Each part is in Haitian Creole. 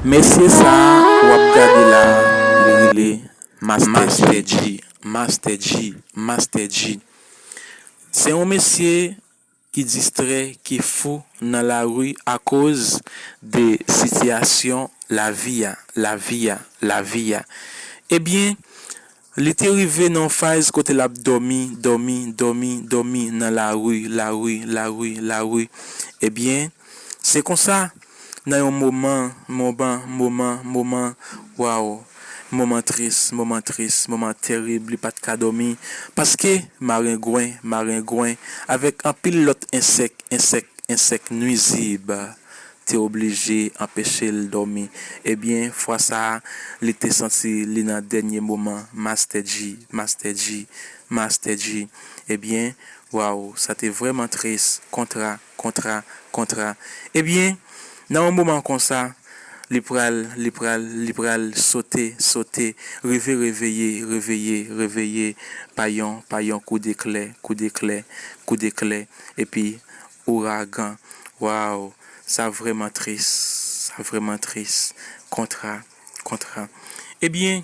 Mesye sa wap gade la li rele Master Dji Se yon mesye ki distrè ki fou nan lari akoz de sitiyasyon lavi a Ebyen Li te rive nan yon faz kote l ap dòmi, dòmi, dòmi, dòmi nan lari, lari, lari, lari. Ebyen, se konsa, nan yon moman, moman, moman, moman, waw, moman tris, moman tris, moman terib, li pa t ka dòmi, paske marengwen, marengwen, avèk anpil lòt ensèk, ensèk, ensèk nwizib, te oblije anpeche l dòmi ebyen fwa sa li te santi li nan dènye moman Master Dji Master Dji Master Dji ebyen waww sa te vrèman tris kontra kontra kontra ebyen nan yon moman konsa li pral li pral li pral sote sote rive reveye reveye reveye pa yon pa yon kou deklè kou deklè kou deklè epi Ouragan waw sa vreman tris sa vreman tris kontra kontra ebyen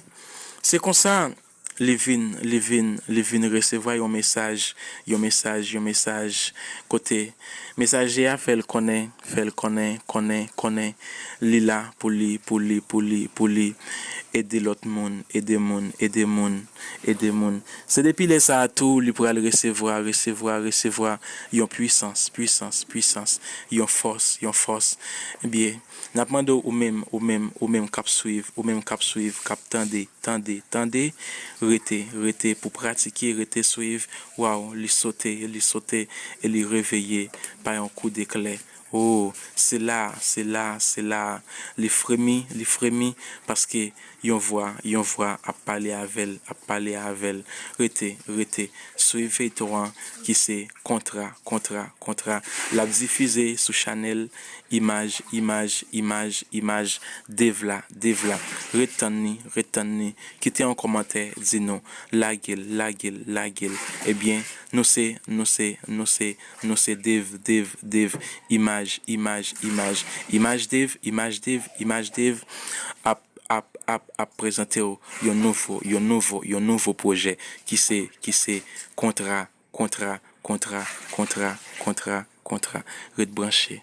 se konsa li vin li vin li vin resevwa yon mesaj yon mesaj yon mesaj kote mesaje a fèl konnen fèl konnen konnen konnen li la pou li pou li pou li pou li ede lòt moun ede moun ede moun. Ede moun. Se depi lè sa a tou li pral resevwa, resevwa, resevwa yon pwisans, pwisans, pwisans, yon fòs, yon fòs. Byen, n ap mande w ou menm, ou menm, ou menm k ap swiv, ou menm k ap swiv, k ap tande, tande, tande, rete, rete pou pratike, rete swiv, waw, li sote, li sote e li reveye pa yon kou deklè. O, se la a, se la a, se la a. Li fremi, li fremi, paske yon vwa, yon vwa ap pale avè l, ap pale avè l. Rete, rete, swiv feyton an ki se Kontra, Kontra, Kontra. L ap difize sou chanèl Imaj, Imaj, Imaj, Imaj. Devla, Devla. Ret tann ni, ret tann ni. Kite yon kòmantè, di nou. Lage l, lage l, lage l. Ebyen, nou se, nou se, nou se. Nou se Dave, Dave, Dave, imaj, imaj, imaj, imaj Dave, imaj Dave, imaj Dave ap, ap, ap, ap prezante w yon nouvo, yon nouvo, yon nouvo pwojè ki se, ki se Kontra, Kontra, Kontra, Kontra, Kontra, Kontra. Ret branche.